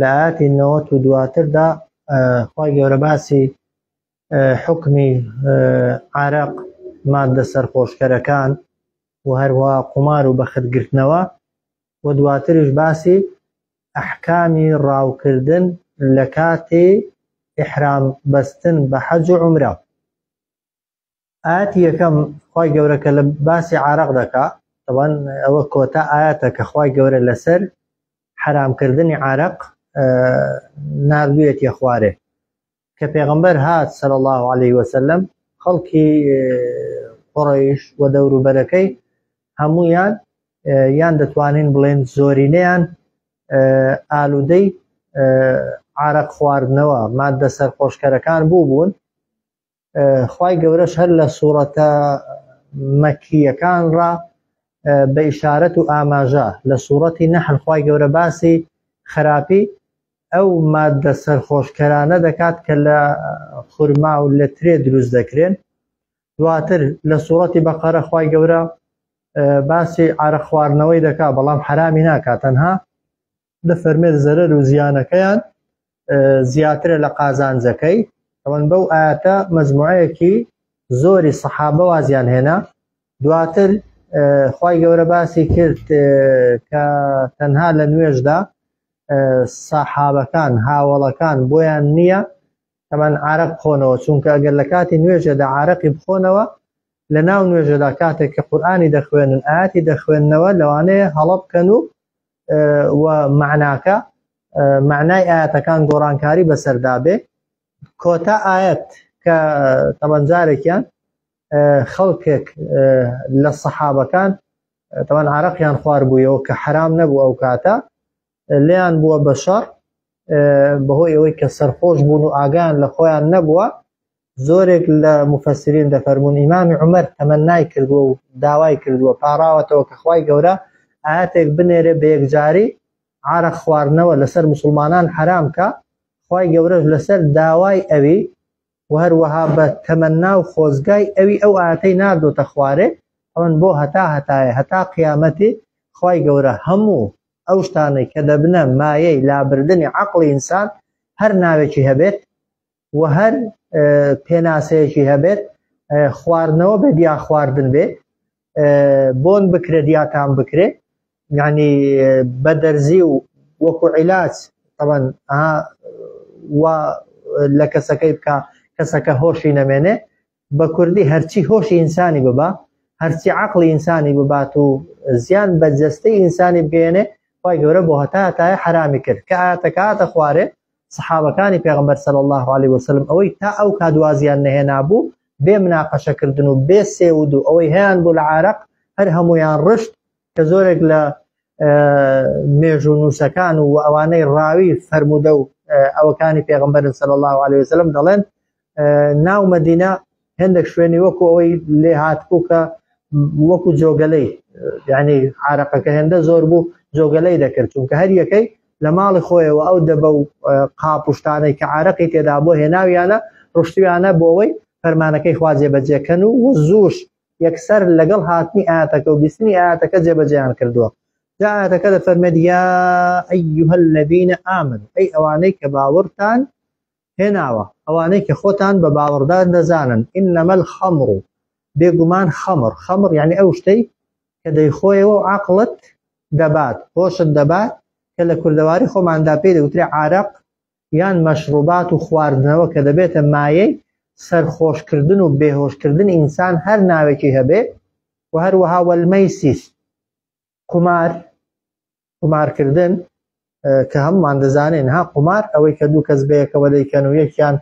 لە ئایەتی نەوەت و دواتردا خوای گەورە باسی حکمی عرق مادە سەرخۆشکەرەکان و هەروە قومار و بەخت گرتنەوە و دواتریش باسی ئەحکامی ڕاوکردن لە کاتی ئیحرام بەستن بە حەج و عومرە. ئایەتی یەکەم خوای گەورە کە لە باسی عرق دەکا طبعاً ئەوە کۆتا ئایەتە کە خوای گەورە لەسەر حرامکردنی عرق ناردویەتی خوارێ کە پێغمبەر هات سەر الله عليه وسلم خەڵکی قڕیش و دەوروبەرەکەی هەمویان یان دەتوانین بڵێن زۆرینەیان ئالوودەی عرق خواردنەوە مادە سەرخۆشکەرەکان بوو بوون خوای گەورەش هەر لە سوڕەتە مەکیەکان ڕا بە ئیشارەت و ئاماژە لە سوڕەتی نەحل خوای گەورە باسی خراپی ئەو مادە سەرخۆشکەرانە دەکات کە لە خورما و لە ترێ دروست دەکرێن دواتر لە سوڕەتی بەقەرە خوای گەورە باسی عرە خواردنەوەی دەکات بەڵام حرامی ناکات تەنها بفەرمێت زەرەر و زیانەکەیان زیاترە لە قازانجەکەی ئەوەن بەو ئاەتە مەزموعەیەکی زۆری سەحابە وازیان هێنا دواتر خی گەورە باسی کرد کە تەنها لە نوێژدا سەحابەکان هاوڵەکان بۆیان نییە تەمان عرق بخۆنەوە چونکە ئەگەر لە کاتی نوێژێدا عرقی بخۆنەوە لە ناو نوێژەدا کاتێک کە قورآانی دەخوێنن ئاتی دەخوێندنەوە لەوانەیە هەڵە بکەن و و مەعناکە، مەعنای ئایەتەکان گۆڕانکاری بەسەردا بێ، کۆتا ئایەت کە تەبەن جارێکیان خەڵکێک لە سەحابەکان تەبەن عرەقیان خوار بوویەوە کە حرام نەبوو ئەو کاتە لێیان بووە بە شەڕ بەهۆی ئەوەی کە سەرخۆش بوون و ئاگیان لە خۆیان نەبووە زۆرێک لە موفەسرین دەفەرموون ئیمامی عومەر تەمەنای کردووە و داوای کردووە پاڕاوەتەوە کە خوای گەورە ئایەتێک بنێرێ بە یەکجاری عارەق خواردنەوە لەسەر موسڵمانان حەرام کا خوای گەورەش لەسەر داوای ئەوی و هەروەها بە تەمەنا و خۆزگای ئەوی ئەو ئاتەی ناردۆتە خوارێ ئەوەن بۆ هەتا هەتایە هەتا قیامەتی خوای گەورە هەموو ئەو شتانەی کە دەبنە مایەی لابردنی عەقڵی ئینسان هەر ناوێکی هەبێت و هەر پێناسەیەکی هەبێت خواردنەوە بێت یا خواردن بێت بۆن بکرێت یا تام بکرێت یعنی بە دەرزی و وەکو عیلاج تەبەن و لە کەسەکەی بکە کەسەکە هۆشی نەمێنێ بە کوردی هەرچی هۆشی ئینسانی ببا هەرچی عقلی ئینسانی ببات و زیان بە جەستەی ئینسانی بگەێنێ خی گەورە بۆ هەتا تای حرامی کرد کە ئاتەکاتە خوارێ سحابەکانی پێغمبەر سەر الله عليه وسلم ئەوەی تا ئەو کادوازیان نەهێنابوو بێ مناقەشەکردن و بێ سێود و ئەوەی هەیان بوو لە عراق هەر هەمویان ڕشت کە زۆرێک لە مێژوو نووسەکان و ئەوانەی ڕاوی فەرموودە و ئەوەکانی پێغمبەرن سەر الله عليه وسلم دەڵێن ناو مەدینە هێندێک شوێنی وەکو ئەوەی لێ هاتبوو کە وەکو جۆگەلەی یعنی عراقەکە هێندە زۆر بوو جۆگەلەی دەکرد چونکە هەر یەکەی لە ماڵی خۆیەوە ئەو دەبە و قاپشتانەی کە عراقی تێدا بۆ هێناویانە ڕشتویانە بۆەوەی فەرمانەکەی خوا جێبەجێکەن و و زوش یەکسەر لەگەڵ هاتنی ئاتەکە و بیستنی ئاتەکە جێبەجیان کردووە جااتەکە دە فەرمێت یا ئەیها الذین ئامن ئەی ئەوانەی کە باوەڕتان هێناوە، ئەوانەی کە خۆتان بە باوەڕدار دەزانن، انما الخمر، بێگومان خەمڕ، خەمڕ یەعنی ئەو شتەی کە دەیخۆیەوە و عەقڵت دەبات، هۆشت دەبات، کە لە کوردەواری خۆماندا پێی دەگوترێ عارەق، یان مەشڕوبات و خواردنەوە کە دەبێتە مایەی سەرخۆشکردن و بێهۆشکردنی ئینسان هەر ناوێکی هەبێ، و هەروەها والمیسر، قومار قومارکردن کە هەمومان دەزانین ها قومار ئەوەی کە دوو کەس بەیەکەوە دەیکەن و یەکیان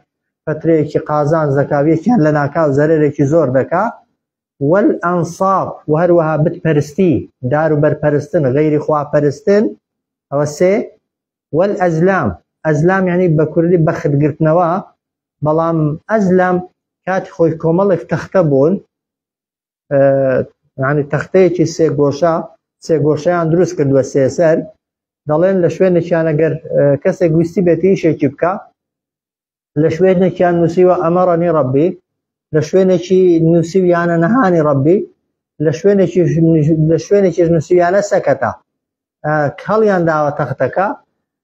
پەترەیەکی قازان زەکاویەکیان لە ناکاو زەرێکی زۆر دەکا وەل ئەنساب و هەروەها بتپەرستی دار و بەرپەرستن غیری خواپەرستن ئەوە سێ وەل ئەزلام ئەزلام یعنی بە کوردی بەختگرتنەوە بەڵام ئەزلام کاتی خۆی کۆمەڵێک تەختە بوون ینی تەختەیەکی سێگۆشە سێگۆشیان دروست کردووە سێسەر دەڵێن لە شوێنێکیان ئەگەر کەسێک گویستی بێتی شێکی بکە لە شوێنێکیان نووسیوە ئەمەڕەنی ڕبی لە شوێنێکی نووسیویانە نەهانی ڕبی لە شوێنێکی لە شوێنێکی نووسیویانە سەکەتە کەڵیان داوە تەختەکە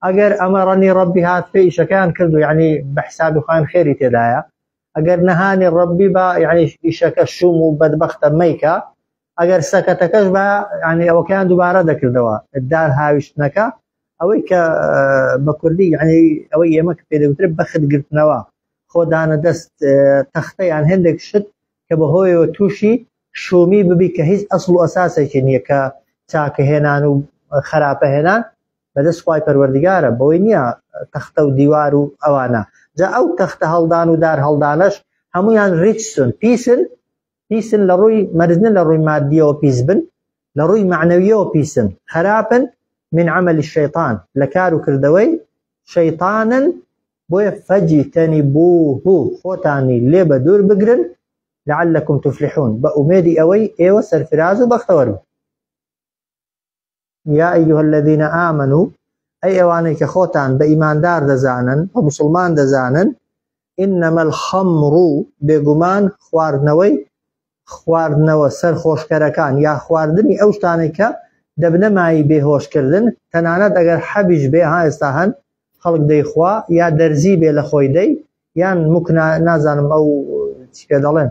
ئەگەر ئەمە ڕەنی ڕبی هات پێ ئیشەکەیان کردو یعنی بە حسابی خۆیان خێری تێدایە ئەگەر نەهانی ڕەبی با یعنی ئیشەکە شوم و بەدبەختە مەیکە ئەگەر سەکەتەکەش بە ینی ئەوەکەیان دووبارە دەکردەوە دار هاویشتنەکە ئەوەی کە بە کوردی یعنی ئەوەی ئێمە کە پێدەوتر بەخت گرتنەوە خۆدانە دەست تەختە یان هەندێک شت کە بەهۆیەوە تووشی شومی ببی کە هیچ ئەسڵ و ئەساسێکی نییە کە چاکە هێنان و خراپە هێنان بەدەست خوای پەروەردگارە بەوەی نییە تەختە و دیوار و ئەوانە جا ئەو تەختە هەڵدان و دار هەڵدانەش هەمویان ریچسون پیسن پیسن لە ڕووی مەرزنە لە ڕووی مادیەوە پیس بن لە ڕووی معنەویەوە پیسن خراپن من عمل الشيطان لە کار و کردەوەی شەیطانن بۆیە فەجیتەنی بوه خۆتانی لێ بە دوور بگرن لعلكم تفلحون بە ئومێدی ئەوەی ئێوە سەرفراز و بەختەوەرن یا ئەیها الذین آمنو ئەی ئەوانەی کە خۆتان بە ئیماندار دەزانن بە مسلمان دەزانن انما الخمر بێگومان خواردنەوەی خواردنەوە سەرخۆشکەرەکان یا خواردنی ئەو شتانەی کە دەبنە مای بێهۆشکردن تەنانەت ئەگەر حەبیش بێ ها ئێستا هەن خەڵک دەیخوا یا دەرزی بێ لە خۆی دەی یان مکنا نازانم ئەو چی پێ دەڵێن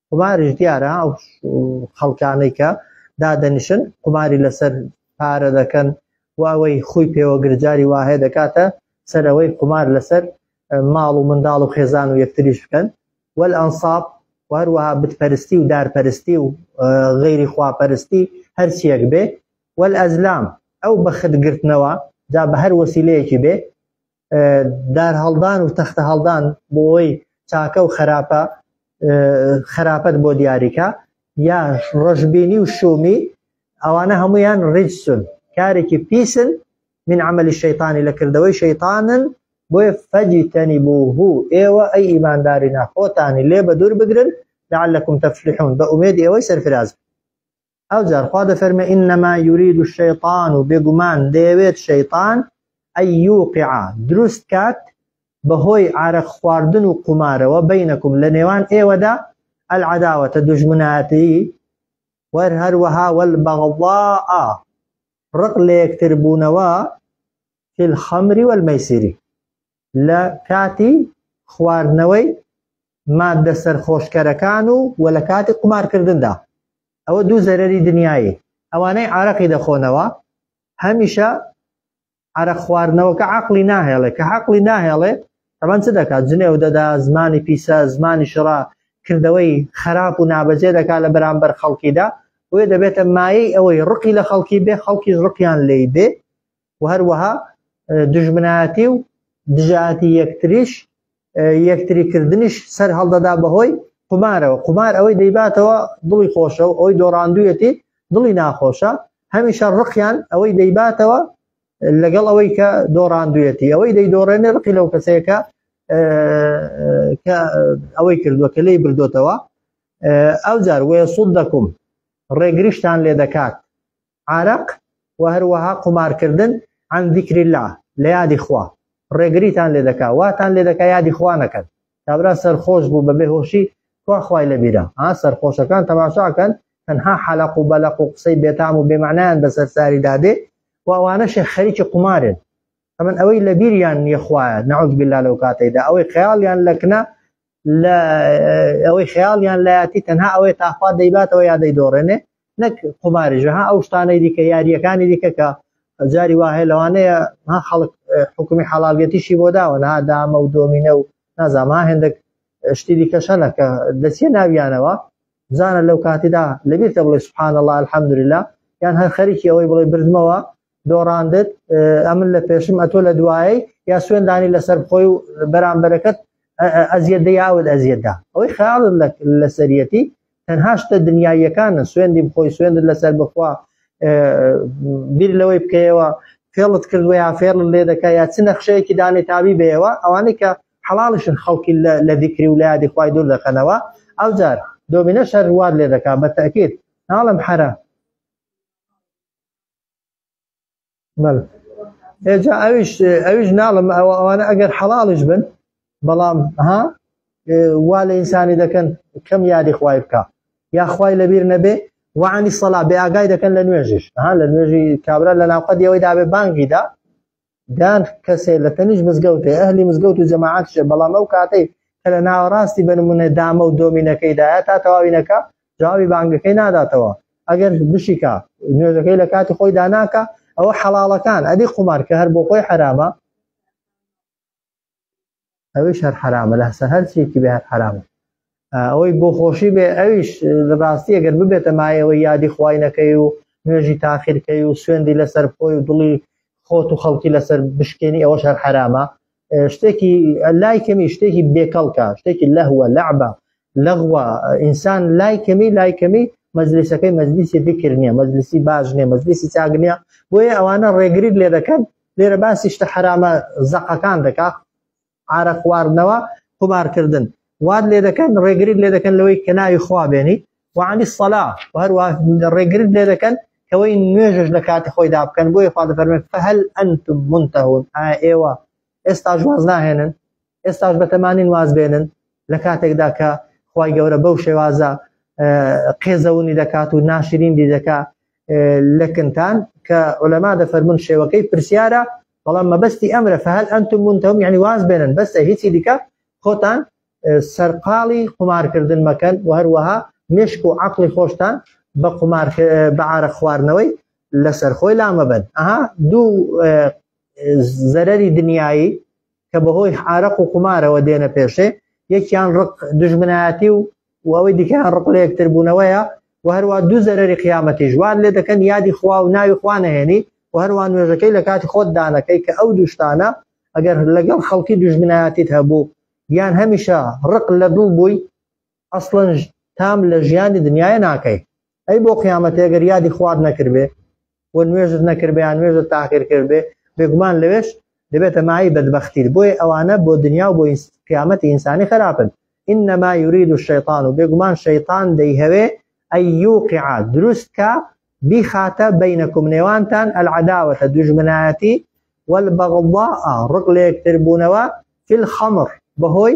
قوماریش دیارە ئەو خەڵکانەی کە دادەنیشن قوماری لەسەر پارە دەکەن و ئەوەی خۆی پێوە گرجاری واهەیە دەکاتە سەرەوەی قومار لەسەر ماڵ و منداڵ و خێزان و یەکتریش بکەن وەل ئەنساب و هەروەها بتپەرستی و دارپەرستی و غیری خواپەرستی هەرچیەک بێ وەل ئەزلام ئەو بەخت گرتنەوە جا بە هەر وەسیلەیەکی بێ دارهەڵدان و تەختە هەڵدان بۆی چاکە و خراپە خراپەت بۆ دیاریکە یا ڕژبینی و شومی ئەوانە هەمویان ڕیجسون کارێکی پیسن من عملی شەیتانی لە کردەوەی شەیتانن بۆیە فەجی تەنی بۆ هو ئێوە ئەی ئیمانداری ناخۆتانی لێ بە دوور بگرن لەعلەکم تەفلحون بە ئومێد ئێوەی سەرفراز ئەوجار خوا دەفەرمێ ئینما یورید الشیطان و بێگومان دەیەوێت شەیطان ئەی یوقعا دروست کات بەهۆی عارەق خواردن و قومارەوە بینەکم لە نێوان ئێوەدا العداوەتە دژمناتی وەر هەروەها والبغضاء ڕق لە یەکتر بوونەوە في الخمر والميسر لە کاتی خواردنەوەی ماددە سەرخۆشکەرەکان و وە لە کاتی قومارکردندا ئەوە دوو زەرەری دنیایی ئەوانەی عارەقی دەخۆنەوە هەمیشە عرق خواردنەوەکە عقلی ناهێڵێ کە عقلی ناهێڵێ تەبەن چ دەکات جنێو دەدا زمانی پیسە زمانی شڕا کردەوەی خراپ و نابەجێ دەکات لە بەرامبەر خەڵکیدا وێ دەبێتە مایەی ئەوەی ڕقی لە خەڵکی بێ خەڵکیش ڕقیان لی بێ و هەروەها دژمنایەتی و دژایەتی یەکتریش یەکتری کردنیش سەر هەڵدەدا بەهۆی قمارەوە قمار ئەوەی دەیباتەوە دڵی خۆشە و ئەوەی دۆڕاندویەتی دڵی ناخۆشە هەمیشە ڕقیان ئەوەی دەیباتەوە لەگەڵ ئەوەی کە دۆڕاندویەتی ئەوەی دەیدۆڕێنێ ڕقی لەو کەسەیەکە کە ئەوەی کردووە کە لی بردوتەوە ئەو جار وەیە سوود دەکوم ڕێگریشتان لێ دەکات عارەق، وە هەروەها قومارکردن، عن ذکر اللە، لە یادی خوا، ڕێگریتان لێ دەکا، واتان لێ دەکا یادی خوا نەکەن. کابرا سەرخۆش بوو بە بێهۆشی، کوا خوای لە بیرە؟ ها سەرخۆشەکان تەماشا کەن، تەنها حەلەق و بەلەق و قسەی بێتام و بێمەعنایان بەسەر ساری دا دێ و ئەوانەشێ خەریکی قومارێن. ئەمن ئەوەی لە بیریان نیە خوایە، نعوذ باللە لەو کاتەی دا ئەوەی خەیاڵیان لە کنە لە ئەوەی خەیاڵیان لایەتی تەنها ئەوەی تاخوا دەیباتەوە یا دەیدۆڕێنێ نەک قوماریژە ها ئەو شتانەی دیکە یاریەکانی دیکە کە جاری واه لەوانەیە ها خەڵک حکومی حەڵالگەتیشی بۆ داوە نا دامە و دۆمینە و نازاما هێندێک شتی دیکە شەنە کە دەچێ ناویانەوە بزانە لەو کاتیدا لەبیرتە بڵێ سبحان الله الحمدلله یان هەر خەریکی ئەوەی بڵێ بردمەوە دۆڕاندت ئەمن لە پێشم ئەتۆ لە دوایی یا سوێندانی لەسەر خۆی و بەرامبەرەکەت ئەزیێت یاود ئەزیێتدا ئەوەی خیاڵ لە سەرەتی تەنها شتە دنیاییەکانە سوێندی بخۆی سوێندت لەسەر بخوا بیر لەوەی بکەیەوە فێڵت کردوە یا فێڵ لێ دەکە یا چ نەخشەیەکی دانێ تابی بێەوە ئەوانەی کە حەڵاڵشن خەڵکی لە دیکری و لایادی خی دوور دەخەنەوە ئەو جار دۆمینە شەروات لێ دەکات بە تاکیت ناڵم حرە بەڵێ ئێ جا ئەویش ئەویش ناڵم ئەوە ئەوانە ئەگەر حەڵاڵیش بن بەڵام ها وا لە ئینسانی دەکەن کەم یادی خوای بکە یاخوای لەبیر نەبێ وانی سەلا بێ ئاگای دەکەن لە نوێژیش ها لە نوێژی کابرا لە ناوقەدیەوەی دابێ بانگیدا دان کەسێ لە تەنیش مزگەوتێ ئەهلی مزگەوت و جەماعاتشێ بەڵام ئەو کاتەی کە لە ناوەڕاستی بنمونە دامە و دۆمینەکەیدایە تا تەواوینەکە جوابی بانگەکەی ناداتەوە ئەگەر بشیکە نوێژەکەی لە کاتی خۆی داناکە ئەوە حەڵاڵەکان ئەدی قومار کە هەر بۆ خۆی حرامە ئەویش هەر حرامە لەسە هەرچێکی بێ هەر حرامە ئەوەی بۆ خۆشی بێ ئەویش ڕاستی ئەگەر ببێتە مایەوەی یادی خوینەکەی و نوێژی تاخیرکەی و سوێندی لەسەر خۆی و دڵی خۆت و خەڵکی لەسەر بشکێنی ئەوە شەر حرامە شتێکی لای کەمی شتێکی بێکەڵکە شتێکی لەهوە لەعبە لەغوە ئینسان لای کەمی لای کەمی مەزلیسەکەی مەزلیسی بکرنیە مەزلیسی باش نیە مەزلیسی چاگنیە بۆیە ئەوانە ڕێگریت لێ دەکەن لێرە باسی شتە حەرامە زەقەکان دەکا عارە خواردنەوە قومارکردن واد لێ دەکەن ڕێگریت لێ دەکەن لەوەی کە ناوی خوا بێنی وعالی سەلا هەروە ڕێگریت لێ دەکەن کەوەی نوێژش لە کاتی خۆیدا بکەن بۆی خوا دەفەرمێت فهل ئەنتم منتهون ئایا ئێوە ئێستا جواز ناهێنن ئێستاش بەتەمانین واز بێنن لە کاتێکدا کە خی گەورە بەو شێوازە قێزەونی دەکات و ناشرینی دەکا لەکنتان کە ئۆلەما دەفەرمون شێوەکەی پرسیارە بەڵام مەبەستی ئەمرە فهل ئەنتم منتهم یعنی واز بێنن بەسە هیچی دیکە خۆتان سەرقاڵی قمارکردن مەکەن و هەروەها مشک و عقلی خۆشتان بە قمار بەعاە خواردنەوەی لەسەر خۆی لامەبن ئەها دوو زەرەری دنیایی کە بەهۆی عرق و قومارەوە دێنە پێشێ یەکیان ڕق دژمنایەتی و وەوەی دیکەیان ڕق لە یەکتر بوونەوەیە و هەروە دوو زەرری قیامەتی ژوان لێ دەکەن یادی خوا و ناوی خوا نەهێنی و هەروان نوێژەکەی لە کاتی خۆت دانەکەی کە ئەو دوشتانە ئەگەر لەگەڵ خەڵکی دژمنایەتیت هەبوو یان هەمیشە ڕق لە دڵ بووی ئەسڵەن تام لە ژیانی دنیاە ناکەی ئەی بۆ قیامەتی ئەگەر یادی خوارد نەکردێ و نوێژت نەکردیان نوێژە تاخیر کردێ بێگومان لەوێش دەبێتە مای بەدبختیت بۆی ئەوانە بۆ دنیا و بۆ قیامەتی ئینسانی خراپن إنما يريد الشيطان و بێگومان شەیطان دەیهەوێ ئەیوقع دروستکە بیخاتە بینەکم نێوانتان ئەلعداوەتە دوژمنایەتی والبغضاء ڕق لە یەکتربوونەوە في الخمر بەهۆی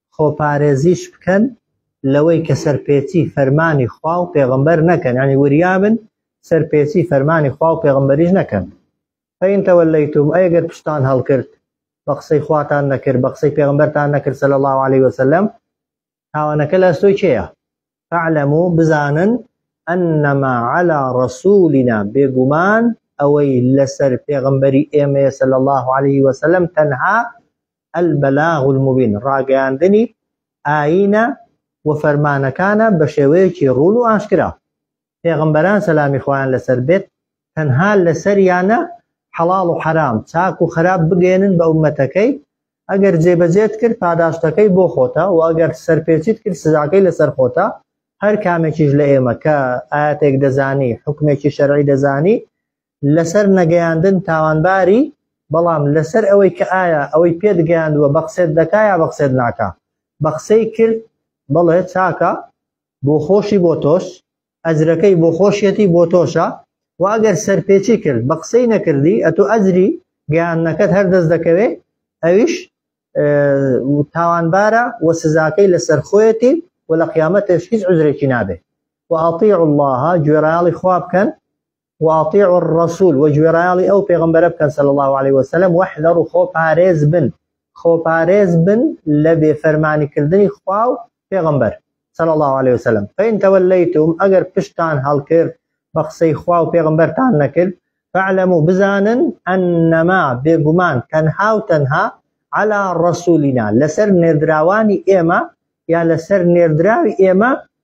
خۆپارێزیش بکەن لەوەی کە سەرپێچی فەرمانی خوا و پێغەمبەر نەکەن، یانی وریا بن سەرپێچی فەرمانی خوا و پێغەمبەریش نەکەن. فەئین تەوەلەیتوم، ئەی گەر پشتتان هەڵکرد، بە قسەی خواتان نەکرد، بە قسەی پێغەمبەرتان نەکرد صلی اللە علیە وسلم، تاوانەکە لە ئەستۆی کێیە؟ فاعلمو بزانن انما علی رسولنا بێگومان ئەوەی لەسەر پێغەمبەری ئێمەیە صلی الله علیه وسلم تەنها البلاغ المبین ڕاگەیاندنی ئاینە و فەرمانەکانە بە شێوەیەکی ڕوون و ئاشکرا پێغەمبەران سەلامی خۆیان لەسەر بێت تەنها لەسەریانە حەڵاڵ و حەرام چاک و خراپ بگەێنن بە ئومەتەکەی ئەگەر جێبەجێت کرد پاداشتەکەی بۆ خۆتە و ئەگەر سەرپێچیت کرد سزاکەی لەسەر خۆتە هەر کامێکیش لە ئێمە کە ئاەتێک دەزانی حکمێکی شەرعی دەزانی لەسەر نەگەیاندن تاوانباری بەڵام لەسەر ئەوەی کە ئایا ئەوەی پێت گەیاندووە بەقسێت دەکایە بەقسێت ناکە بەقسەی کرد بڵێ چاکە بۆ خۆشی بۆ تۆش ئەجرەکەی بۆ خۆشیەتی بۆ تۆشە و ئەگەر سەرپێچی کرد بە قسەی نەکردی ئەتو ئەجری گەیاندنەکەت هەر دەست دەکەوێ ئەویش تاوانبارە و سزاکەی لەسەر خۆیەتی و لە قیامەتش هیچ عزرێکی نابێ و ئەطیع اللهە گوێڕایاڵی خوا بکەن وأطیعوا الرسول و گوێڕایەڵی ئەو پێغەمبەرە بکەن صلی اللە علیە وسلم وحذروا خۆ پارێز بن خۆ پارێز بن لە بێ فەرمانی کردنی خوا و پێغەمبەر صلی اللە علیە وسلم فإن توليتم ئەگەر پشتان هەڵکرد بە قسەی خوا و پێغەمبەرتان نەکرد فاعلموا بزانن أنما بێگومان تەنها و تەنها على رسولنا لەسەر نێردراوانی ئێمە یا لەسەر نێردراوی ئێمە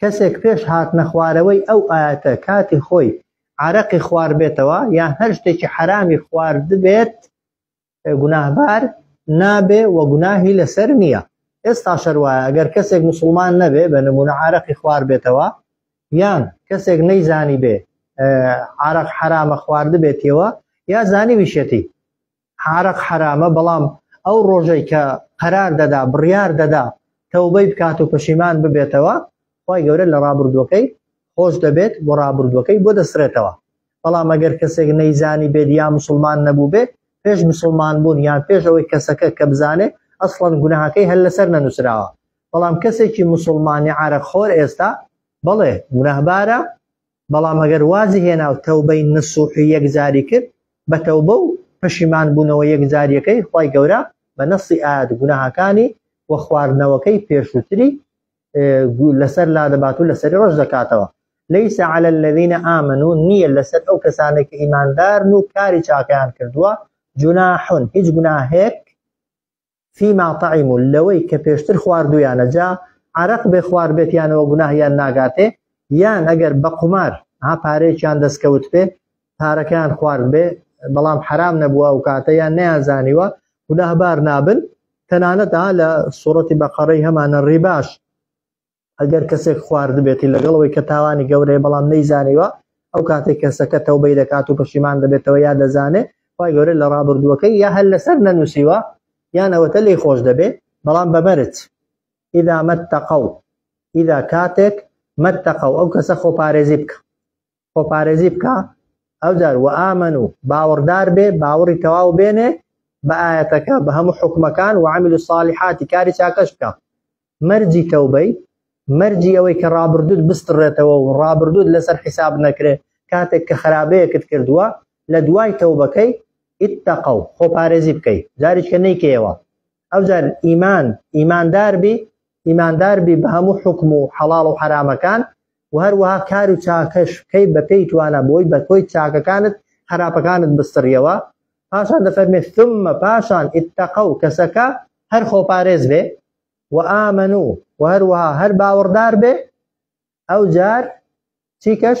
کەسێک پێش هاتنە خوارەوەی ئەو ئایەتە کاتی خۆی عەرەقی خواربێتەوە یان هەر شتێکی حەرامی خواردبێت گوناهبار نابێ و گوناهی لەسەر نییە ئێستا شەروایە ئەگەر کەسێک مسلمان نەبێ بە نمونە عراقی خوار بێتەوە یان کەسێک نەیزانی بێ عراق حرامە خواردبێتەوە یا زانی ویشەتی عارەق حەرامە بەڵام ئەو ڕۆژەی کە قەرار دەدا بڕیار دەدا تەوبەی بکات و پەشیمان ببێتەوە خی گەورە لە ڕابردووەکەی خۆش دەبێت بۆ ڕابردووەکەی بۆ دەسرێتەوە بەڵام ئەگەر کەسێک نەیزانی بێت یا مسلمان نەبوو بێت پێش مسلمان بوون یان پێش ئەوەی کەسەکە کە بزانێ ئەسڵەن گوناهەکەی هەر لەسەر نەنووسراوە بەڵام کەسێکی مسلمانی عرەق خۆر ئێستا بڵێ گوناهبارە بەڵام ئەگەر وازی هێنا و تەوبەی نسوح و یەکجاری کرد بە تەوبە و پەشیمان بوونەوە یەکجاریەکەی خوای گەورە بە نەصی ئایات گوناهەکانی و خواردنەوەکەی پێشووتری لەسەر لادەبات و لەسەری ڕەش دەکاتەوە ليس على الذين آمنوا نییە لەسەر ئەو کەسانێک کە ئیماندارن و کاری چاکیان کردووە جناح هیچ گوناهێک فیما طعمو لەوەی کە پێشتر خواردویانە جا عەرەق بێ خوار بێت یانەوە گوناهیان ناگاتێ یان ئەگەر بە قومار ها پارێکیان دەستکەوت پێ پارەکەیان خوارد بێ بەڵام حرام نەبووە ئەو کاتە یان نیانزانیوە گوناهبار نابن تەنانەتا لە سوڕەتی بەقەڕەی هەمانە ڕیباش ئەگەر کەسێک خواردبێتی لەگەڵەوەی کە تاوانی گەورەیە بەڵام نەیزانیوە ئەو کاتێک کەسەکە تەوبەی دەکات و پەشیمان دەبێتەوە یا دەزانێ خی گەورە لە ڕابردووەکەی یا هەر لەسەر نەنووسیوە یان ئەوەتە لی خۆش دەبێ بەڵام بەمەرج ئیدا مەتەقە و ئیدا کاتێک مەتەقە و ئەو کەسە خۆپارێزی بکە خۆپارێزی بکە ئەوجار و ئامن و باوەڕدار بێ باوەڕی تەواو بێنێ بە ئاەتەکە بە هەموو حکومەکان و عامل و ساڵحاتی کاری چاکەش بکە مەرجی تەوبەی مەرجی ئەوەی کە ڕابردوت بستڕێتەوە و ڕابردوت لەسەر حیساب نەکرێ کاتێک کە خراپەیەکت کردووە لە دوای تەوبەکەی ئیتەقە و خۆپارێزی بکەیت جاریشکە نیکەیەوە ئەوجار ئیمان ئیماندار بی ئیماندار بی بە هەموو حوکم و حەڵاڵ و حەرامەکان و هەروەها کار و چاکەش بکەی بە پێی توانا بۆی بە کۆی چاکەکانت خراپەکانت بسڕیەوە پاشان دەفەرمێ ثم پاشان اتقوا کەسەکە هەر خۆپارێز بێ و ئامن و و هەروەها هەر باوەڕدار بێ ئەوجار چیکەش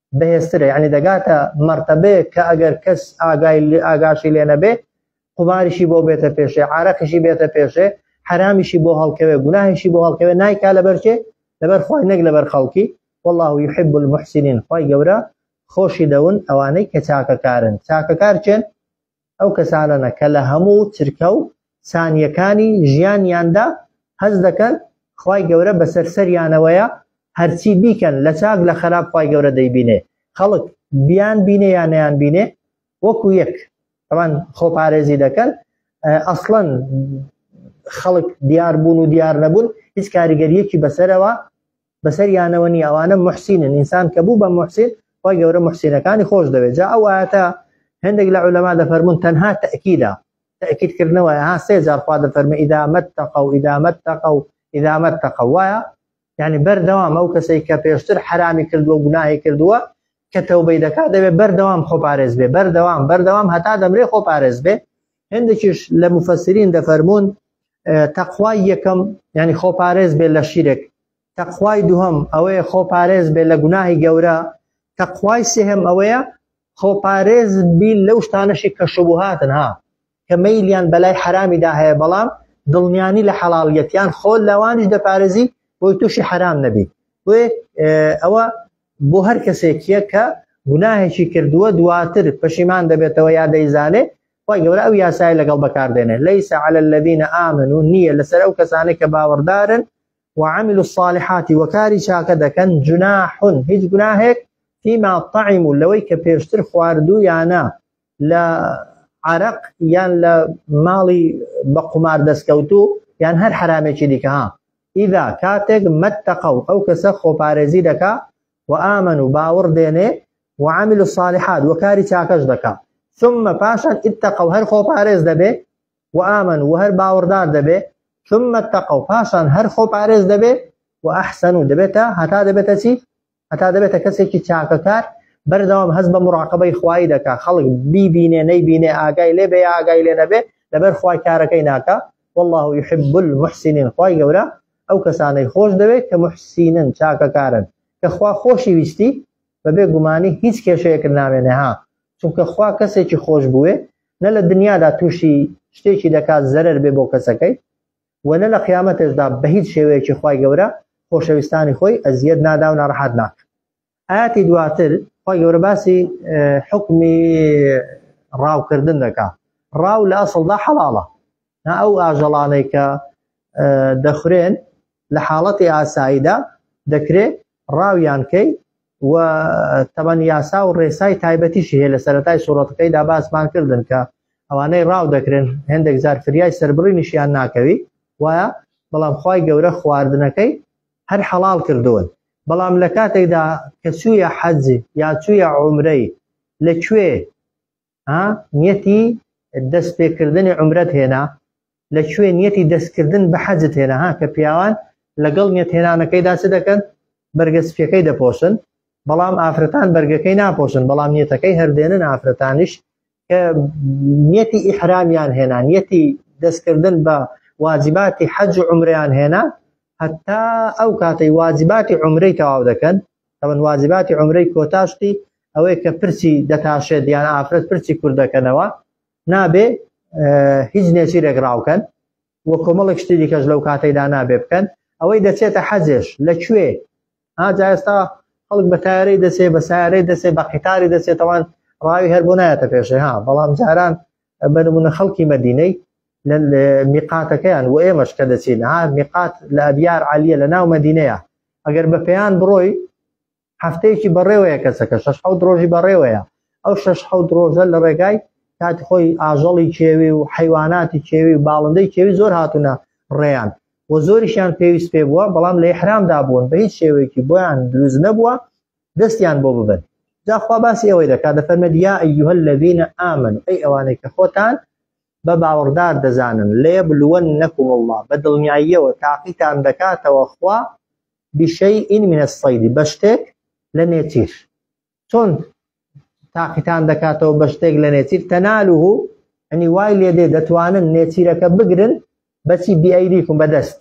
بەهێزترە یعنی دەگاتە مەرتەبەیەک کە ئەگەر کەس ئاگای ئاگاشی لێ نەبێ قوماریشی بۆ بێتە پێشێ عراقیشی بێتە پێشێ حرامیشی بۆ هەڵکەوێ گوناهیشی بۆ هەڵکەوێ نایکا لەبەرچێ لەبەر خۆی نەک لەبەر خەڵکی والله يحب المحسنين خی گەورە خۆشی دەون ئەوانەی کە چاکەکارن چاکەکار چێن ئەو کەسانەنە کە لە هەموو چرکە و سانیەکانی ژیانیاندا هەست دەکەن خوای گەورە بەسەر سەریانەوەیە هەرچی بیکەن لە چاک لە خەراپ خوای گەورە دەیبینێ خەڵک بیان بینێ یان نیان بینێ وەکو یەک ئەوان خۆ پارێزی دەکەن ئەسڵەن خەڵک دیار بوون و دیار نەبوون هیچ کاریگەریەکی بەسەرەوە بەسەریانەوە نیە ئەوانە محسینن ئینسان کە بوو بە محسین خۆی گەورە محسینەکانی خۆش دەوێت جا ئەو ئاەتە هەندێک لە عولەما دەفەرمونون تەنها تەکیدا تەکیدکردنەوە ها سێ جار خوا دەفەرمە ئیدامەت تەقە و ئیدامەت تەقە و ئیدامەت تەقە وایە یعنی بەردەوام ئەو کەسەی کە پێشتر حرامی کردووە گوناهی کردووە کە تەوبەی دەکات دەبێت بەردەوام خۆپارێز بێ بەردەوام بەردەوام هەتا دەمرێ خۆپارێز بێ هەندێکیش لە مفەسرین دەفەرمونون تەخوای یەکەم ینی خۆپارێز بێ لە شیرێک تەخوای دووهم ئەوەیە خۆپارێز بێ لە گوناهی گەورە تەخوای سێهم ئەوەیە خۆپارێز بی لەو شتانەشی کە شبهاتن ها کە مەیلیان بەلای حرامیدا هەیە بەڵام دڵنیانی لە حەڵاڵیەتیان خۆ لەوانش دەپارێزی بۆی تووشی حرام نەبی بۆێ ئەوە بۆ هەر کەسێکیە کە گوناهێکی کردووە دواتر پەشیمان دەبێتەوە یا دەیزانێ خوای گەورە ئەو یاسای لەگەڵ بەکاردێنێ لەیس على الذين آمنوا نییە لەسەر ئەو کەسانە کە باوەڕدارن وعمل الصالحات وەکاری چاکە دەکەن جناحون هیچ گوناهێک فيما طعم لەوەی کە پێشتر خواردوو یانە لە عرق یان لە ماڵی بە قومار دەستکەوتو یان هەر حرامێکی دیکە ها ئیدا کاتێک مەتەقە و ئەو کەسە خۆپارێزی دەکا و ئامن و باوەڕ دێنێ وعامل و صالحات و کاری چاکەش دەکا ثم پاشان اتقە و هەر خۆ پارێز دەبێ و ئامن و هەر باوەڕدار دەبێ ثم اتقە و پاشان هەر خۆ پارێز دەبێ و ئەحسن و دەبێتە هەتا دەبێتە چی هەتا دەبێتە کەسێکی چاکەکار بەردەوام هەز بە مراقبەی خوای دەکا خەڵک بیبینێ نەیبینێ ئاگای لێ بێ ئاگای لێ نەبێ لەبەر خوای کارەکەی ناکە والله يحب المحسنين خوای گەورە ئەو کەسانەی خۆش دەوێت کە موحسینن چاکەکارن کە خوا خۆشی ویستی بەبێ گومانی هیچ کێشەیەکت نامێنێ ها چونکە خوا کەسێکی خۆش بوێ نە لە دنیادا توشی شتێکی دەکات زەرەر بێ بۆ کەسەکەی وە نە لە قیامەتێشدا بەهیچ شێوەیەکی خوای گەورە خۆشەویستانی خۆی ئەزیەت نادا و ناڕەحەت ناکات ئاەتی دواتر خی گەورە باسی حکمی ڕاوکردن دەکا ڕاو لە ئەسڵدا حەڵاڵە نا ئەو ئاژەڵانەی کە دەخورێن لە حاڵەتی ئاساییدا دەکرێت ڕاویانکەی و تەمەن یاسا و ڕێسای تایبەتیشی هەیە لە سەرەتای سوڕەتەکەیدا باسمان کردن کە ئەوانەی ڕاو دەکرێن هەندێک زار فریای سربڕینیشیان ناکەوی وایە بەڵام خی گەورە خواردنەکەی هەر حەڵاڵ کردوون بەڵام لە کاتێکدا کە چوویە حەج یا چوویە عومرەی لە کوێ ها نیەتی دەست پێکردنی عمرەت هێنا لە کوێ نیەتی دەستکردن بە حەجت هێنا ها کە پیاوان لەگەڵ نیەت هێنانەکەیدا چ دەکەن بەرگە سپیەکەی دەپۆشن بەڵام ئافرەتان بەرگەکەی ناپۆشن بەڵام نیەتەکەی هەردێنن ئافرەتانیش کە نیەتی ئیحرامیان هێنا نیەتی دەستکردن بە واجباتی حەج و عمریان هێنا هەتا ئەو کاتەی واجباتی عمرەی تەواو دەکەن تەمەن واجباتی عمرەی کۆتاشتی ئەوەی کە پرسی دەتاشێت یان ئافرەت پرسی کوردەکەنەوە نابێ هیچ نێچیرێک ڕاوکەن وە کۆمەڵێک شتی دیکەش لەو کاتەیدا نابێ بکەن ئەوەی دەچێتە حەجێش لە کوێ ها جا ئێستا خەڵک بە تارەی دەچێ بە سارەی دەچێ بە قیتاری دەچێتەوان ڕاوی هەر بۆ نایەتە پێشێ ها بەڵام جاران بە نمونە خەڵکی مەدینەی لە میقاتەکەیان و ئێمەش کە دەچین ها میقات لە ئەبیار عالیە لە ناو مەدینەیە ئەگەر بە پێیان بڕۆی هەفتەیەکی بەڕێوەیە کەسەکە شش حەوت ڕۆژی بەڕێوەیە ئەو شش حەوت ڕۆژە لە ڕێگای کاتی خۆی ئاژەڵی کێوی و حیواناتی کێوی و باڵندەی کێوی زۆر هاتوونە ڕێیان و زۆریشیان پێویست پێ بووە بەڵام لە حرامدا بوون بە هیچ شێوەیەکی بۆیان دروست نەبووە دەستیان بۆ ببن جاخوا باسی ئەوەی دەکات دە فەرمەد یا ئەیها الذین آمنوا ئەی ئەوانەی کە خۆتان بە باوەڕدار دەزانن لێبلوەنەکم الله بە دڵنیاییەوە تاقیتان دەکاتەوە خوا بشیء من الصید بە شتێک لە نێچیر چۆن تاقیتان دەکاتەوە بە شتێک لە نێچیر تەنالوه ئەنی وای لێ دێ دەتوانن نێچیرەکە بگرن بەچی بیئەیدیکم بەدەست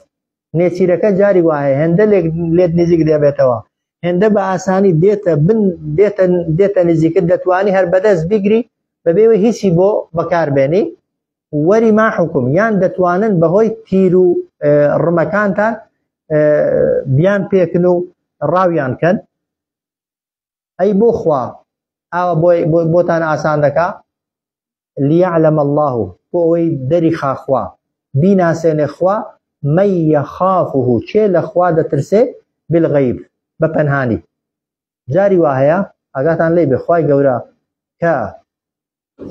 نێچیرەکە جاری وایە هێندە لێک لێت نزیک دەبێتەوە هێندە بە ئاسانی دێتە بن دێتە دێتە نزیکت دەتوانی هەر بەدەست بیگری بەبێوە هیچی بۆ بەکاربێنی وەری ما حکوم یان دەتوانن بەهۆی تیر و ڕمەکانتان بیان پێکن و ڕاویان کەن ئەی بۆ خوا ئاوە بۆتان ئاسان دەکا لیعلم الله بۆ ئەوەی دەری خاخوا بیناسێنێ خوا مەیە خافه چێ لە خوا دەترسێ بالغیب بە پەنهانی جاری وا هەیە ئاگاتان لی بخوای گەورە کە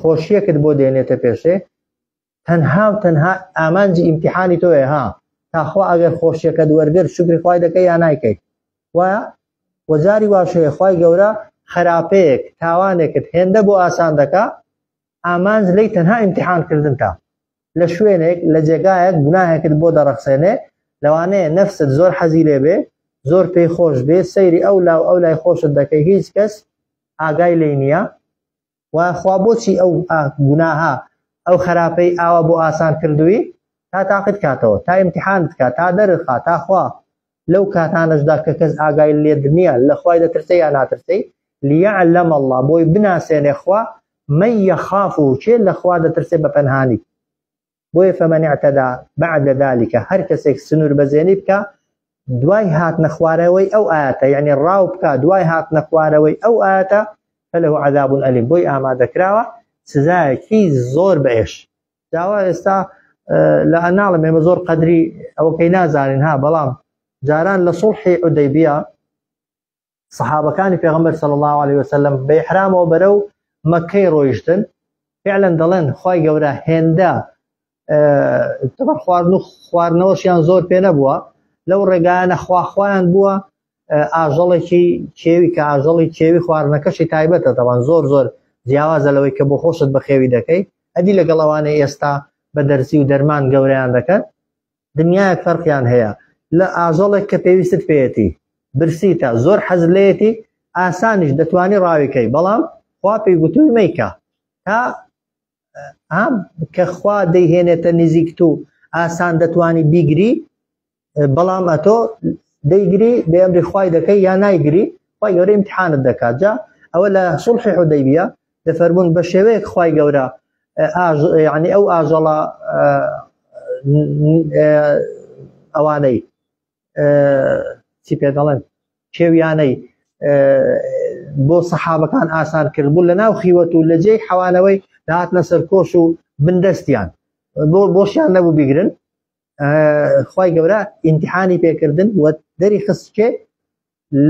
خۆشیەکت بۆ دێنێتە پێشێ تەنها و تەنها ئامانجی ئیمتحانی تۆیە ها تاخوا ئەگەر خۆشیەکەت وەرگر شکری خوای دەکەی یا نایکەیت وایە وەجاری واشەیە خی گەورە خراپەیەک تاوانێکت هێندە بۆ ئاسان دەکا ئامانج لی تەنها ئیمتحان کردن تا لە شوێنێک لە جێگایەک گوناهێکت بۆ دەڕەخسێنێ لەوانەیە نەفست زۆر حەزی لێ بێ زۆر پێی خۆش بێ سەیری ئەو لاو ئەو لای خۆشت دەکەی هیچ کەس ئاگای لی نییە و خوا بۆچی ئەو گوناهە ئەو خراپەی ئاوا بۆ ئاسان کردووی تا تاقیت کاتەوە تا ئیمتیحانت کا تا دەرخا تا خوا لەو کاتانەشدا کە کەس ئاگای لێت نییە لە خوای دەترسێ یا ناترسەی لیعلم الله بۆی بناسێنێ خوا من یخافه کێ لە خوا دەترسێ بە پەنهانی بۆیە فمن اعتدی بعد ذلک هەر کەسێک سنوور بەزێنی بکە دوای هاتنە خوارەوەی ئەو ئاەتە یعنی ڕاو بکە دوای هاتنە خوارەوەی ئەو ئاەتە فله عذاب ئەلیم بۆی ئامادەکراوە سزایەکی زۆر بەێش داوا ئێستا لە ئەناڵم ئێمە زۆر قەدری ئەوەکەی نازانین ها بەڵام جاران لە سوڵحی ئۆدەیبیا سەحابەکانی پێغەمبەر صلی الله علیه وسلم بە ئیحرامەوە بەرەو مەکەی ڕۆیشتن فعلا دەڵێن خوای گەورە هێندە تەبەر خواردن و خواردنەوەشیان زۆر پێ نەبووە لەو ڕێگایانە خواخوایان بووە ئاژەڵێکی کێوی کە ئاژەڵی کێوی خواردنەکەشی تایبەتە دەوان زۆر زۆر جیاوازە لەوەی کە بۆ خۆشت بەخێوی دەکەی ئەدی لەگەڵ ئەوانە ئێستا بە دەرزی و دەرمان گەوریان دەکەن دنیایەک فەرقیان هەیە لە ئاژەڵێک کە پێویستت پێیەتی برسیتە زۆر حەز لێتی ئاسانیش دەتوانی ڕاویکەی بەڵام خوا پێی گوتوی مەیکە تا ئام کە خوا دەیهێنێتە نزیک تو ئاسان دەتوانی بیگری بەڵام ئەتۆ دەیگری بێمری خی دەکەی یا نایگری خی گەورە امتحانت دەکات جا ئەوە لە سڵحی حدەیبە دەفەرموون بە شێوەیەک خوای گەورە یعنی ئەو ئاژەڵە ئەوانەی چی پێ دەڵێن کێویانەی بۆ سەحابەکان ئاسان کرد بوو لە ناو خیوەت و لە جێی حەوانەوەی داهاتنە سەرکۆش و بندەستیان بۆ بۆشیان نەبوو بیگرن خی گەورە ئینتحانی پێکردن و دەری خستکێ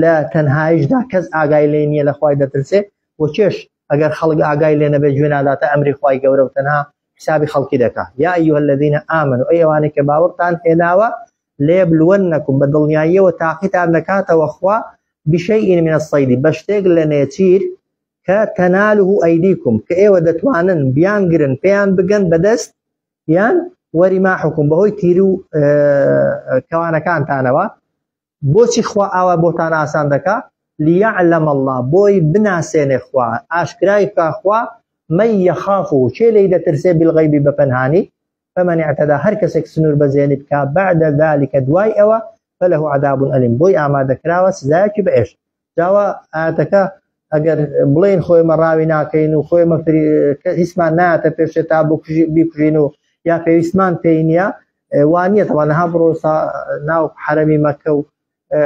لە تەنهایشدا کەس ئاگای لێ نییە لە خوای دەترسێ و چێش ئەگەر خەڵک ئاگای لێ نەبێت گوێ ناداتە ئەمری خوای گەورە و تەنها حسابی خەڵکی دەکا یا ئەیها الذین آمنوا ئەی ئەوانەی کە باوەڕتان هێناوە لێبلوەنەکم بە دڵنیاییەوە تاقیتان دەکاتەوە خوا بشەیء من الصید بە شتێک لە نێچیر کە تەناله ئەیدیکم کە ئێوە دەتوانن بیان گرن پێیان بگەن بەدەست یان وەریماحکم بەهۆی تیر و کەوانەکانتانەوە بۆچی خوا ئاوا بۆتان ئاسان دەکا؟ لیعلم اللە، بۆی بناسێنێ خوا، ئاشکرای بکا خوا، من یخافه، کێ لێی دەترسێ، بالغیب، بە پەنهانی، فمن اعتدی، هەر کەسێک سنوور بەزێنی بکا، بعد ذلک، دوای ئەوە، فله عذاب الیم، بۆی ئامادە کراوە سزایەکی بە ئێشە. جاوا ئایەتەکە ئەگەر بڵێن خۆی مە ڕاوی ناکەین و خۆی مە هیچمان ناتە پێشێ تا بیکوژین و یا پێویستمان پێی نییە وانە تەوان ها بڕۆ ناو حرەمی مەکە و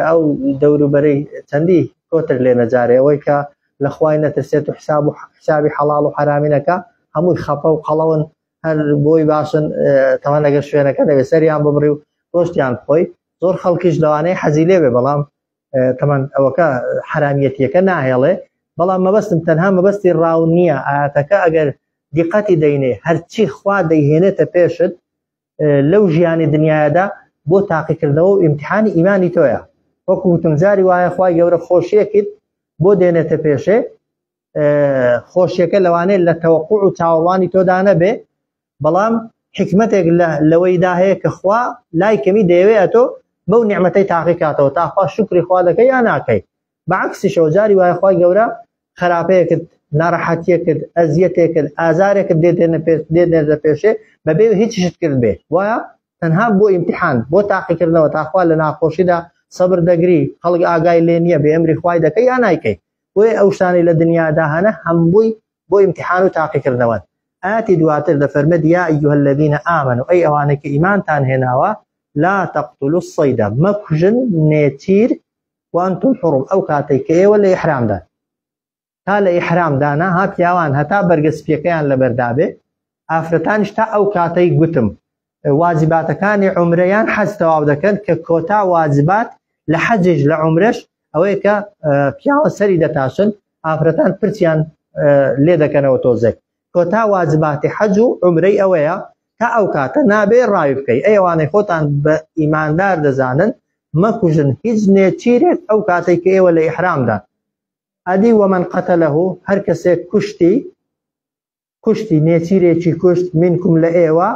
ئەو دەوروبەرەی چەندی کۆتر لێ نەجارێ ئەوەی کە لە خوای نەترسێت و حساب و حسابی حەڵاڵ و حرامینەکە هەمووی خەپە و قەڵەون هەر بۆی باشن تەوان لەگە شوێنەکە دەوێت سەریان ببڕی و ڕۆشتیان خۆی زۆر خەڵکیش لەوانەیە حەزی لێ بێ بەڵام تەمان ئەوەکە حرامیەتیەکە ناهێڵێ بەڵام مەبەستم تەنها مەبەستی ڕاو نییە ئاەتەکە ئەگەر دیقەتی دەینێ هەرچی خوا دەیهێنێتە پێشت لەو ژیانی دنیادا بۆ تاقیکردنەوە و ئیمتحانی ئیمانی تۆیە وەکو وتم جاری وایە خخوای گەورە خۆشیەکت بۆ دێنێتە پێشێ خۆشیەکە لەوانێت لە تەوەقوع و چاوەڕوانی تۆدا نەبێ بەڵام حکمتێک لەوەیدا هەیە کە خوا لای کەمی دەیەوێت ئەتۆ بەو نعممەتەی تاقی کاتەوە تاخوا شکری خوا دەکەی یا ناکەی بەعکسیشەوە جاری وایە خخوای گەورە خراپەیەکت ناڕەحەتیەکرد ئەزیەتێکرد ئازارێکت دێدێنە پێ دێنێت لە پێشێ بەبێ هیچشت کرد بێ وایە تەنها بۆ ئیمتحان بۆ تاقیکردنەوە تاخوا لە ناخۆشیدا سەبر دەگری خەڵک ئاگای لێ نییە بێ ئەمری خوای دەکەی یا نایکەی بۆیە ئەو شتانەی لە دنیادا هەنە هەمووی بۆ ئیمتیحان و تاقیکردنەوەن. ئایەتی دواتر دەفەرمێت یا ایها الذین آمنوا ئەی ئەوانەی کە ئیمانتان هێناوە لا تقتلوا الصید مەکوژن نێچیر وانتم حرم ئەو کاتەی کە ئێوە لە ئیحرامدان تا لە ئیحرامدانە ها پیاوان هەتا بەرگە سپیەکەیان لەبەردابێ ئافرەتانیش تا ئەو کاتەی گوتم واجباتەکانی عمرە یان حەج تەواو دەکەن کە کۆتا واجبات لە حەجیش لە عمرش ئەوەیە کە پیاوە سەری دەتاشن ئافرەتان پرچیان لێ دەکەنەوە تۆزێک کۆتا واجباتی حەج و عمرەی ئەوەیە تا ئەو کاتە نابێ ڕاوی بکەی ئەیوانەی خۆتان بە ئیماندار دەزانن مەکوژن هیچ نێچیرێک ئەو کاتێک کە ئێوە لە ئیحرامدا ئەدی وەمەن قەتە لەه هەر کەسێک کوشتی کوشتی نێچیرێکی کوشت منکم لە ئێوە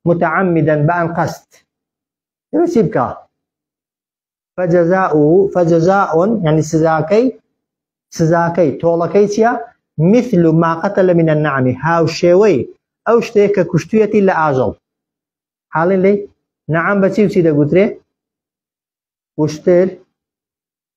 متعمدا بە ئەنقەست ئێوە چی بکە فجزاؤه فجزاء يعني سزاکەی سزاکەی تۆڵەکەی چییە مثل ما قتل من النعم هاوشێوەی ئەو شتێک کە کوشتویەتی لە ئاژەڵ حاڵین لی نعم بەچی و چی دەگوترێ وشتر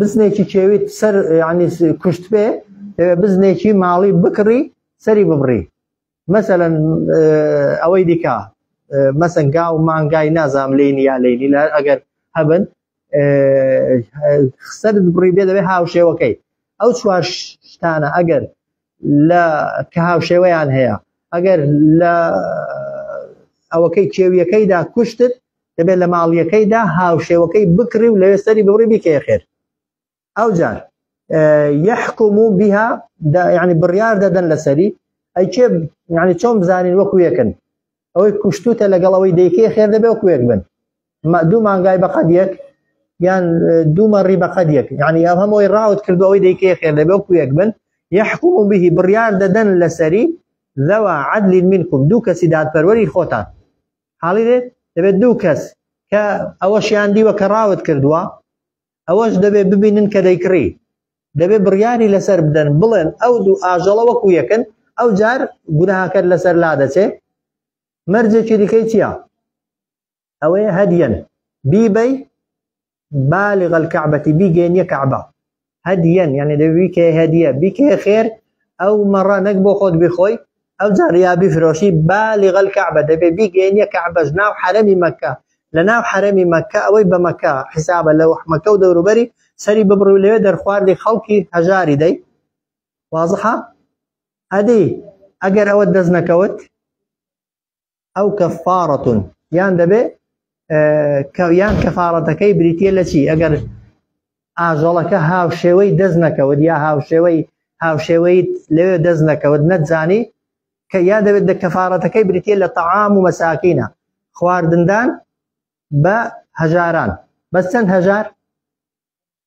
بزنێکی کێویت سەر ینی کوشت پێ بزنێکی ماڵی بکڕی سەری ببڕی مەسەەن ئەوەی دیکە مەسەنگا و مانگای نازام لینی یا لینی لە ئەگەر هەبن سەر بڕی بێ دەبێت هاوشێوەکەی ئەو چوار شتانە ئەگەر لە کە هاوشێوەیان هەیە ئەگەر لە ئەوەکەی کێویەکەیدا کوشتت دەبێت لە ماڵیەکەیدا هاوشێوەکەی بکڕی و لەوێ سەری ببڕی بیکەیە خێر ئەوجار یحکم و بها ینی بڕیار دەدەن لەسەری ئەیکێ ینی چۆن بزانین وەکو یەکن ئەوەی کوشتوتە لەگەڵ ئەوەی دەیکەی خێر دەبێ وەکو یەک بن دوو مانگای بەقەد یەک یان دوومە ڕی بەقەد یەک ینی ئەم هەمۆی ڕاوت کردو ئەوەی دەیکەی خێر دەبێ وەکو یەک بن یحکم و بهی بڕیار دەدەن لەسەری ذوا عدل منكم دوو کەسی دادپەروەری خۆتان حاڵی دێت دەبێت دوو کەس کە ئەوەشیان دیوە کە ڕاوت کردووە ئەوەش دەبێت ببینن کە دەیکڕی دەبێت بڕیاری لەسەر بدەن بڵێن ئەو دوو ئاژەڵە وەکو یەکن ئەو جار گوناهاکەت لەسەر لا دەچێت مەرجێکی دیکەی چییە ئەوەیە هەدیەن بیبەی بالغ الكعبة بیگەێنیە کەعبە هەدیەن یعنی دەبێ بیکە هەدیە بیکە خێر ئەو مەڕە نەک بۆ خۆت بیخۆی ئەو جاریا بیفرۆشی بالغ الكعبة دەبێ بیگەێنیە کەعبەش ناو حرەمی مەکە لە ناو حرەمی مەکە ئەوەی بە مەکە حیسابە لەو حمەکە و دەوروبەری سەری ببڕی و لەوێ دەرخواردی خەڵکی هەژاری دەی وازحە ئەدی ئەگەر ئەوە دەست نەکەوت ئەو کەفاڕەتون یان دەبێ یان کەفاڕەتەکەی بریتە لە چی ئەگەر ئاژەڵەکە هاوشێوەی دەست نەکەوت یا هاوشێوەی هاوشێوەی لەوێ دەست نەکەوت نەتزانی کە یا دەبێت لە کەفاارەتەکەی بریتە لە تەعام و مەساکینە خواردندان بە هەژاران بەس چەند هەژار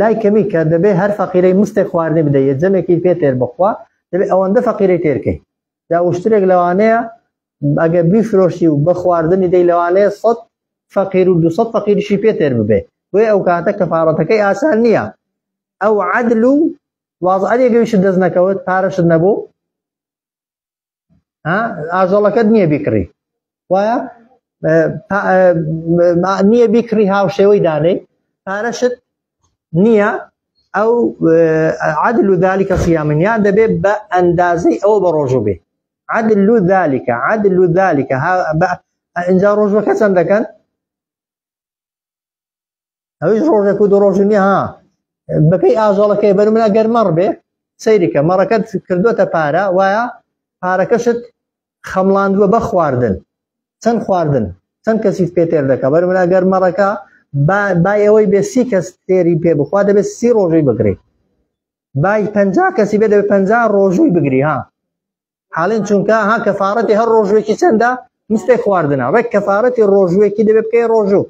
لای کەمی کە دەبێ هەر فەقیرەی مستێک خواردنی بدەیە جەمێکی پێ تێر بخوا دەبێ ئەوەندە فەقیرەی تێرکەی دا وشترێک لەوانەیە ئەگە بیفرۆشی و بە خواردنی دەی لەوانەیە سەد فەقیر و دوسە فەقیریشی پێ تێر ببێ بۆی ئەو کاتە کەفاڕەتەکەی ئاسان نییە ئەو عدل و واز ئەرێگەویش دەست نەکەوت پارەشت نەبوو ئاژەڵەکەت نییە بیکڕی وایە نییە بیکڕی هاوشێوەی دانێ پارەشت نییە ئەو عدل و ذلكکە سیامنیان دەبێت بە ئەندازەی ئەوە بە ڕۆژوو بێ عدل و ذلكکە عدل و ذلكکە ئەجا ڕۆژوەکە چەند دەکەن ئەویش ڕۆژێک و دو ڕۆژی نیە ها بەپی ئاژەڵەکەی بەرمنا گەر مەڕ بێ سەیریکە مەڕەکەت کردوتە پارە وایە پارەکەشت خەمڵاندووە بە خواردن چەند خواردن چەند کەسیت پێ تێر دەکە بەرمنا گەر مەڕەکە با ئەوەی بێ سی کەس تێری پێ بخوا دەبێت سی ڕۆژی بگرێت بای پ کەسی بێ دەبێت پ ڕۆژووی بگری ها حالین چونکە ها کەفاەتی هەر ڕۆژوێکی چەندە مستێک خواردنە ڕێک کەفاەتی ڕۆژوێکی دەبێت بکەی ڕۆژوو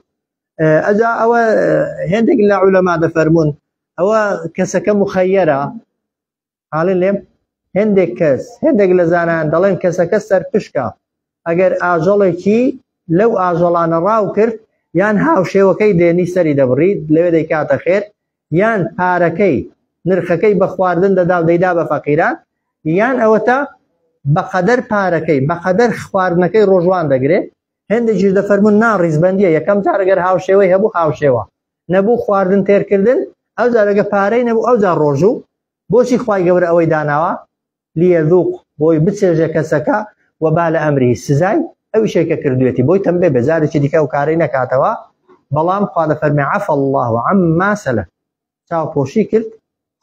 ئەجا ئەوە هێندێک لە عولەما دەفەرمونون ئەوە کەسەکە مخەیەرە حاڵی لێم هەندێک کەس هەندێک لە زانان دەڵێن کەسەکە سەرپشکە ئەگەر ئاژەڵێکی لەو ئاژەڵانە ڕاو کرد یان هاوشێوەکەی دێنی سەری دەبڕیت لەوێ دەیکاتە خێر یان پارەکەی نرخەکەی بە خواردن دەدا و دەیدا بە فەقیران یان ئەوەتا بەقەدەر پارەکەی بەقەدەر خواردنەکەی ڕۆژوان دەگرێ هەندێکیش دەفەرمون نا ڕیزبەندیە یەکەم جارەگەر هاوشێوەی هەبوو هاوشێوە نەبوو خواردن تێرکردن ئەو جارەگە پارەی نەبوو ئەو جار ڕۆژوو بۆچی خی گەورە ئەوەی داناوە لیەذوق بۆی بچێژێ کەسەکە و با لە ئەمری سزای ئەو شێکە کردوێتی بۆی تەمبێ بێ جارێکی دیکە ئەو کارەی نەکاتەوە بەڵام خوا لە فەرمی عەف الله و عەم ماسەلە چاوپۆشی کرد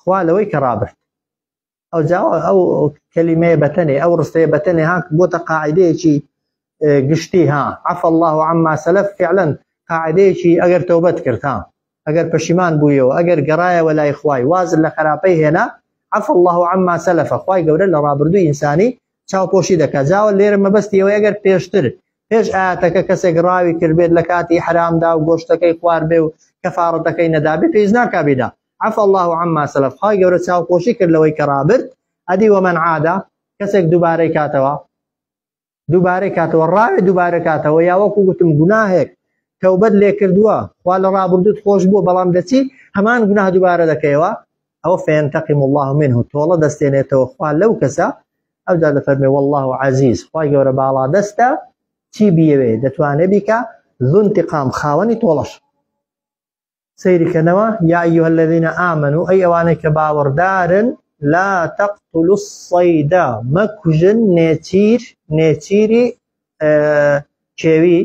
خوا لەوەی کە ڕابرد ئەو جاوە ئەو کەلیمەیە بەتەنێ ئەو ڕستەیە بەتەنێ هاک بۆتە قاعدەیەکی گشتی ها عفا الله عما سلف فعلا قاعدەیەکی ئەگەر تۆبەت کرد ها ئەگەر پەشیمان بوویەوە ئەگەر گەڕایەوە لای خوای واز لە خراپەی هێنا عفا الله عما سلف خوای گەورە لە ڕابردوو ئینسانی چاوپۆشی دەکات جاوە لێرە مەبەستی ئەوەی ئەگەر پێشتر پێش ئاەتەکە کەسێک ڕاوی کردبێت لە کاتی حرامدا و گۆشتەکەی خوار بێ و کەفاڕەتەکەی نەدابێ پێیز ناکبیدا عفا الله عما سلف خوای گەورە چاوپۆشی کرد لەوەی کە ڕابرد ئەدی وەمەن عادا کەسێک دووبارەی کاتەوە دووبارەی کاتەوە ڕاوێ دووبارە کاتەوە یا وەکو گوتم گوناهێک تەوبەت لێ کردووە خوا لە ڕابردوت خۆش بووە بەڵام دەچی هەمان گوناه دووبارە دەکەیەوە ئەوە فێنتەقیم الله منه تۆڵە دەستێنێتەوە خوا لەو کەسە ئەودا دەفەرمێ والله عزیز خوای گەورە باڵا دەستە چی بیەوێ دەتوانێت بیکە زونتیقام خاوەنی تۆڵەش سەیرکەنەوە، یا ایها الذین آمنوا ئەی ئەوانەی کە باوەڕدارن لا تقتلوا الصید مەکوژن نێچیر نێچیری کێوی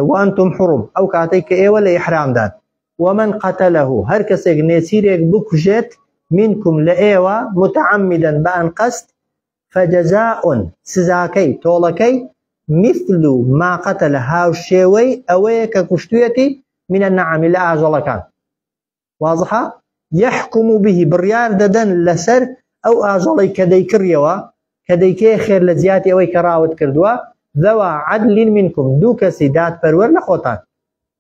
وانتم حرم ئەو کاتەی کە ئێوە لە ئیحرامدان ومن قتله هەر کەسێک نێچیرێک بکوژێت منکم لە ئێوە متعمدن بە ئەنقەست فجزاء، سزاکەی، تۆڵەکەی، مثل ما قتل، هاوشێوەی ئەوەیە کە کوشتوویەتی، من النعام، لە ئاژەڵەکان. واضحە؟ یحکم به، بڕیار دەدەن لەسەر ئەو ئاژەڵەی کە دەیکڕیەوە، کە دەیکەیە خێر لە جیاتی ئەوەی کە ڕاوت کردووە، ذوا عدل منکم، دوو کەسی دادپەروەر لە خۆتان.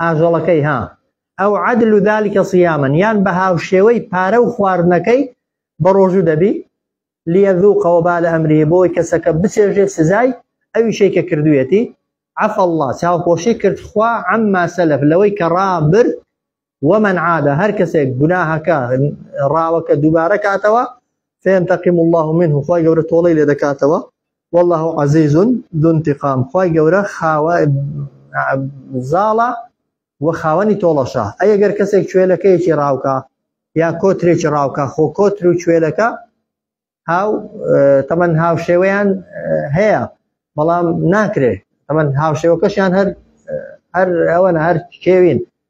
ئاژەڵەکەی ها ئەو عدل و ذلکە صیامن یان بە هاوشێوەی پارە و خواردنەکەی بە ڕۆژوو دەبی لیەذوقەوە با لە ئەمری بۆی کەسەکە بچێژێ سزای ئەوی شەی کە کردویەتی عف الله چاوپۆشی کرد خوا عما سەلف لەوەی کە ڕابرد ومن عادە هەر کەسێک گوناهەکە ڕاوەکە دووبارە کاتەوە فێنتەقیم الله منه خۆی گەورە تۆڵی لێ دەکاتەوە واللە عزیز ذو انتقام خوای گەورە خاوە زاڵە و خاوەنی تۆڵەشە ئەی گەر کەسێک کوێلەکەیەکی ڕاوکە یا کۆترێکی ڕاوکە خۆ کۆتر و کوێلەکە هاو تەمەەن هاوشێوەیان هەیە بەڵام ناکرێ تەمەەن هاوشێوەکەشیان هەر هەر ئەوەنە هەر کێوین